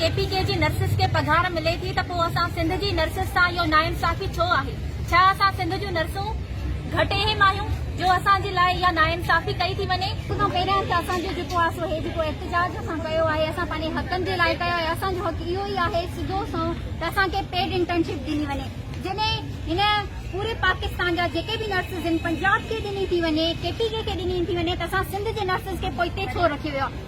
ڪي P K جي nurses کي پگهار ملي ٿي ته پوء اسان سنڌ جي نرسز سان اهو ناانصافي ڇو آهي؟ ڇا اسان سنڌ جون نرسون گهٽ اهم آهيون جو اسان جي لاء اها ناانصافي ڪئي ٿي وڃي؟ سڀ کان پهريان ته اسان جو جيڪو آهي سو هي جيڪو احتجاج اسان ڪيو آهي اسان پنهنجي حقن جي لاء ڪيو آهي اسان جو حق اهو ئي آهي سڌو سنئون ته اسان کي پيڊ انٽرنشپ ڏني وڃي جڏهن هن پوري پاڪستان جا جيڪي به نرسز آهن پنجاب کي ڏني ٿي وڃي ڪي پي ڪي کي ڏني ٿي وڃي ته اسان سنڌ جي نرسز کي پوئتي ڇو رکيو ويو آهي؟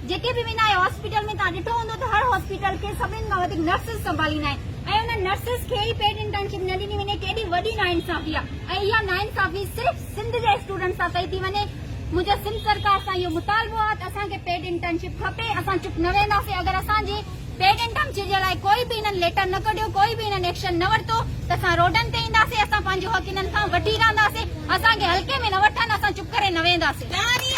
جيڪي به ويندا آهيو هاسپيٽل ۾ توهان ڏٺو هوندو ته هر هاسپيٽل کي سڀني کان وڌيڪ نرسز سنڀاليندا آهن ۽ انهن نرسز کي ئي پيڊ انٽرنشپ نه ڏني وڃي ڪيڏي وڏي ناانصافي آهي ۽ اها ناانصافي صرف سنڌ جي اسٽوڊنٽس سان ڪئي ٿي وڃي منهنجو سنڌ سرڪار سان اهو مطالبو آهي ته اسان کي پيڊ انٽرنشپ کپي اسان چپ نه ويهنداسين اگر اسان جي پيڊ انٽرنشپ جي لاء ڪوئي به انهن ليٽر نه ڪڍيو ڪوئي به انهن ايڪشن نه ورتو ته اسان روڊن تي اينداسين اسان پنهنجو حق انهن کان وٺي رهنداسين اسان کي هلڪي ۾ نه وٺن اسان چپ ڪري نه ويهنداسين.